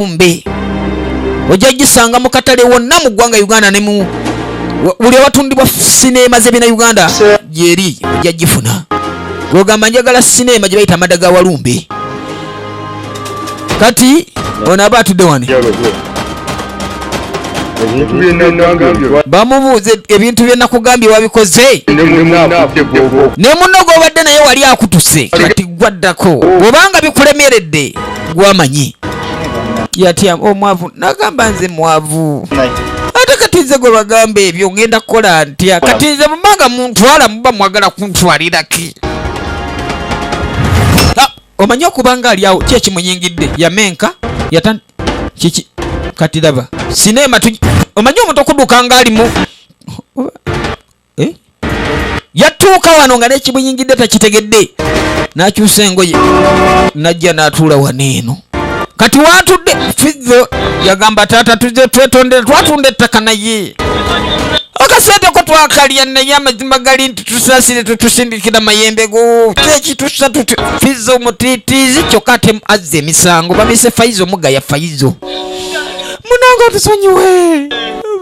kumbe ojja gisanga mu katale wonna mu ggwanga uganda ne mu buli awatundibwa sineema z'ebina uganda gyeri ojja gifuna gwogamba njagala sineema gye bayita amada ga walumbe kati ono aba atudde wani bamubuuza ebintu bye nakugambye wabikoze ne munno gwobadde naye wali akutuse kati gwaddako obanga bikulemeredde gwamanyi yatya omwavu oh, nagamba nze mwavu ate kati nze gwe bagamba ebyo ngenda kukola ntya kati nze mumanga muntwala muba mwagala kuntwaliraki omanyi okubanga ali awo kyekimunyingidde yamenka yata kiki kati laba sineema omanyi omuntu okuduka nga alimu eh? yatuuka wano nga nekibuyingidde takitegedde nakyusa engoye najja natuula wano eno kati watudde fizo yagamba taata tuze twetondere twatunda ettaka naye akasente ko twakalya naye amazima gali nti tusasire tutusindikira mayembe go kyekitusa tuti fizo omutitiizi kyokka ate azza emisango bamise faizo mugaya faizo munange otusonyiwe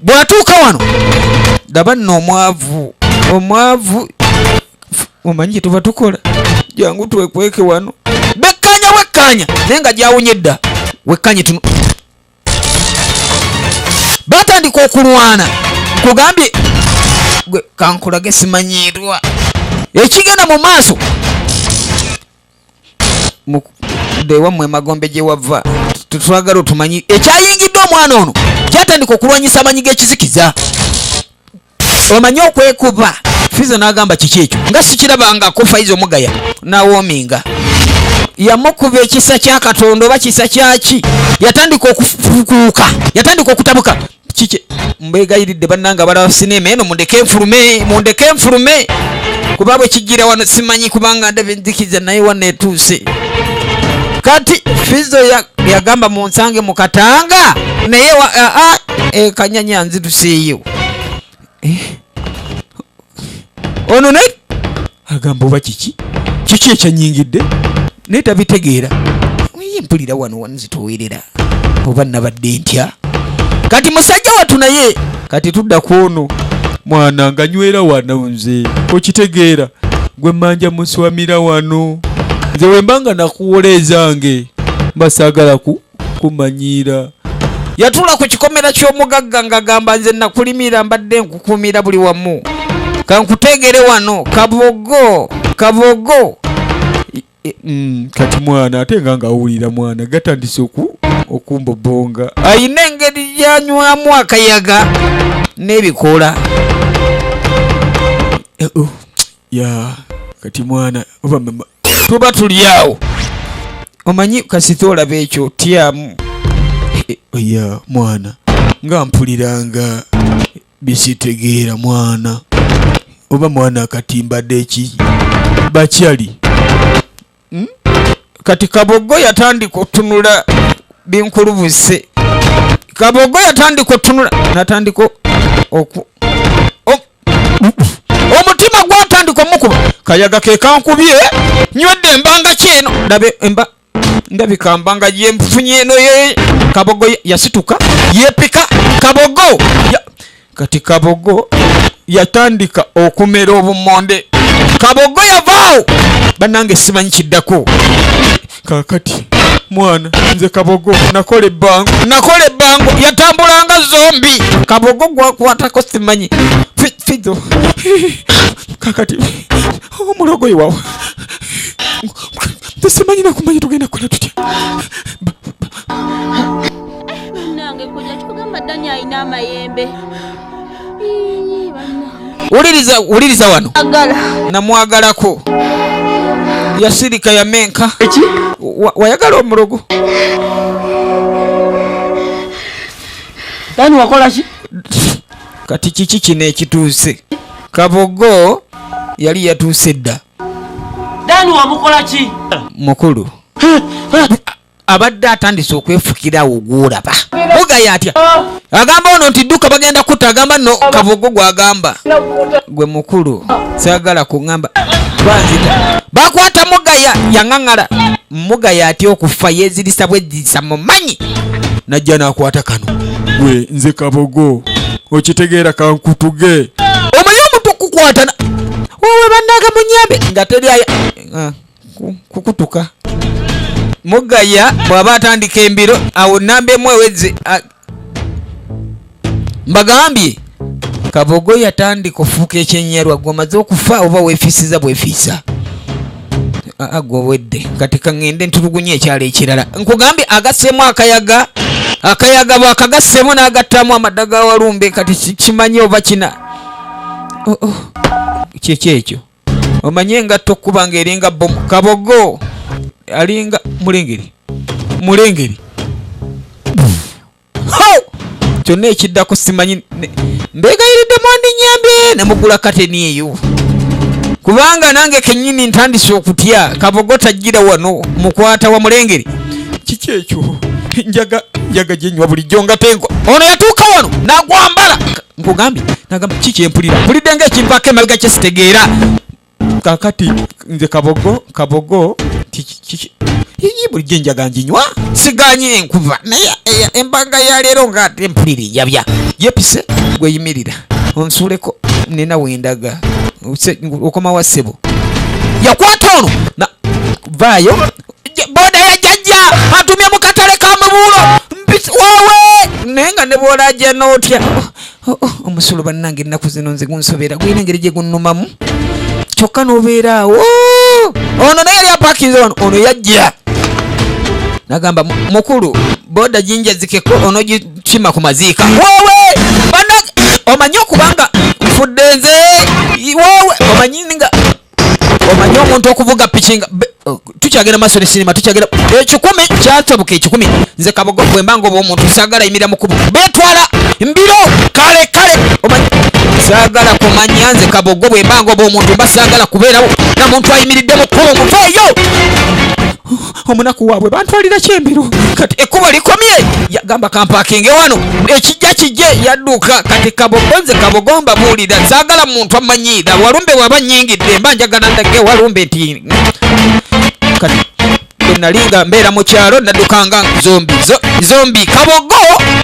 bwatuuka wano ndaba nno omwavu omwavu omanyi kyetuba tukola jangu twekweke wano bekkanya wekkanya naye nga gyawunye dda wekkanye tuno batandika okulwana kugambye gwe kankulage simanyiirwa ekigenda mu maaso bewammwe emagombe gye wava twagala otumanyi ekyayingidde omwana ono kyatandika okulwanyisa amanyi g'ekizikiza omanyi okwekuba fiza n'agamba kiki ekyo nga sikirabangako faiza omugaya nawoominga yamukuba ekisa kya katonda oba kisa kyaki yatandika okufukuuka yatandika okutabuka kiki mbegayiridde bannanga abalaba sinema eno mundeke nfulume mundeke nfulume kuba bwe kijjira wano simanyi kubanga ndabye nzikiza naye wano etuuse kati fizo yagamba ya munsange mukatanga naye ekanyanya eh, nziruseeyo eh? ono naye agamba oba kiki kiki ekyanyingidde naye tabitegeera ye mpulira wano wanzitowerera oba nabadde ntya kati musajja watu naye kati tudda ku ono mwana nga nywera wano nze okitegeera gwe manja muswamira wano nze wemba nga nakuwola ezange mba saagala ku kumanyiira yatuula ku kikomera ky'omugagga ng'agamba nze nakulimira mbadde nkukuumira buli wamu kankuteegere wano kabogo kabogo mm, kati mwana ate nga ng'awulira mwana gatandise oku okumbobonga ayina engeri gyanywamu akayaga n'ebikoola eh, oh. ya kati mwana oba mama tuba tuli awo omanyi kasita olaba ekyo tyamu eh, eh, ya mwana nga mpuliranga bisitegeera mwana oba mwana akatimbadde eki bakyali hmm? kati kabogo yatandika otunula binkulubuse kabogo yatandika otunula natandika oku omutima gwatandika omukuba kayaga kekankubye nywedde embanga kyeno ndabe emba ndabika mbanga yemfunye eno ye kabogo yasituka yepika kabogo ya, kati kabogo yatandika okumera obumonde kabogo yavaawo banange simanyi kiddako kakati mwana nze kabogo nakola ebbango nakola ebbango yatambulanga zombi kabogo gwakwatako simanyi fido kakati omulogo iwawo simanyi nakumanya tugenda kukola tutya nange kojja kikugamba dani alina amayembe wuliriza wuliriza wano namwagalako yasirika yamenka wayagala omulogo dani wakolaki kati kiki kino ekituuse kabogo yali yatuuse dda dani wamukolaki mukulu abadde atandise okwefukira awo gwolaba mugaya atya agamba ono nti dduka bagenda kutta agamba no kabogo gwagamba gwe mukulu sagala kuŋamba banzita bakwata mugaya yaŋaŋala mugaya atya okufa yezirisa bwezirisa mumanyi najja nakwata kano gwe nze kabogo okitegeera kankutuge omanyi omuntu okukwatana wowe bandaga munyambe nga teri aya ah. kukutuka mugaya bwaba atandika embiro awo namba emu eweze mbagambye kabogo yatandika ofuuka ekyenyalwa gwe omaze okufa oba wefiisiza bwefiisa agwe obwedde kati kaŋŋende ntulugunya ekyalo ekirala nkugambye agaseemu akayaga akayaga bwakagaseemu n'agattamu amadda ga walumbe kati kimanyi oba kina oh, oh. kyekyo ekyo omanyi engatto okukuba nga eringa bomu kabogo alinga mulengeri mulengeri kyonna ekiddako simanyi mbegayiridde mwandinyambye nemugula kateni eyo kubanga nange kenyini ntandise okutya kabogo tajjira wano mukwata wa mulengeri kiki ekyo njaga njaga gyenywa bulijjo nga tenkwa ono yatuuka wano nagwambala nkugambye nagamba ki kyempulira mpulidde nga ekimpaako emabega kye sitegeera kakati nze kabogo kabogo iyi bulijjo enjaga njinywa siganye enkuva naye eh, embaga ya leero nga ate mpulira enjabya yepise gweyimirira onsuuleko nina wendaga okomawa ssebo yakwata ono vaayo boda ya jajja atumye mu katale ka mubuulo mpisi wowe naye nga ne bwola ajja nootya oh, oh, oh, omusolo bannange ennaku zino nze gunsobera gulina engeri gye gunnumamu kyokka n'obeera awo ono naye yali apakinze wano ono yajja nagamba mukulu boda jinjazikeko onogikima ku maziika wowe omanyi okubanga nfudde nze wowe omanyi nga omanyi omuntu okuvuga piki nga oh, tukyagenda maaso ne sinema tukyagenda ekikumi eh, kyatabuka ekikumi nze kabogo bwemba nga oba omuntu sagala yimira mukubu betwala mbiro kale kale omanyi sagala kumanya nze kabogo bwemba nga oba omuntu mba sagala kubeerawo na muntu ayimiridde mukubu muveeyo omunaku waabwe bantwalira kyembiro kati ekkubo likomye yagamba kampakinge wano ekijja kijje yadduka kati kabobonze kabogomba buulira saagala muntu amanyiira walumbe waba nyingidde mba njagala ndage walumbe nti kati nali nga mbeera mu kyalo naddukanga zombi zombi kabogo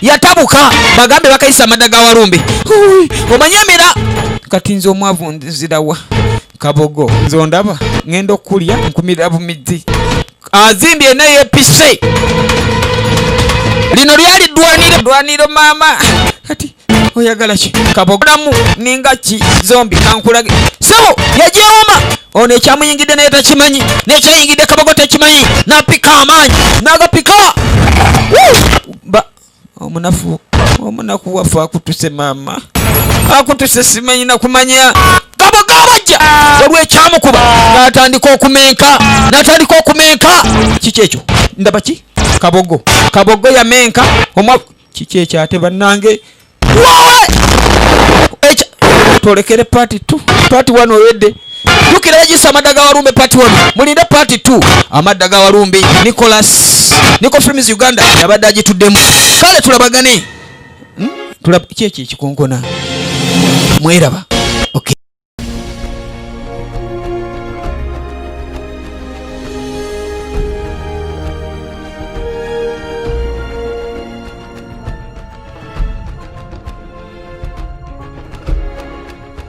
yatabuka bagambe bakayisa amadda ga walumbe omanyi emera kati nze omwavu nzirawa kabogo nze ondaba ngenda okulya nkumira bumidzi azimbye naye pise lino lyali dwaniro dwaniro mama kati oyagala ki kabogolamu ninga ki zombi kankulage sebo yajewoma ono ekyamuyingidde naye takimanyi nekyayingidde kabogo takimanyi napika amaanyi nagapika omunafu omunaku waffe akutuse maama akutuse simanyi nakumanya kabo kabajja waliwo ekyamukuba natandika okumenka natandika okumenka kiki ekyo ndaba ki kabogo kabogo yamenka omwa kiki ekyo ate bannange wawe tolekere pati t pati wano oyedde jukira yagisa amadda ga walumbe part 1 mulinde part 2 amadda ga walumbe nicolas nico films uganda yabadde agituddemu kale tulabagane hmm? tulab kyekyo ekikonkona mweraba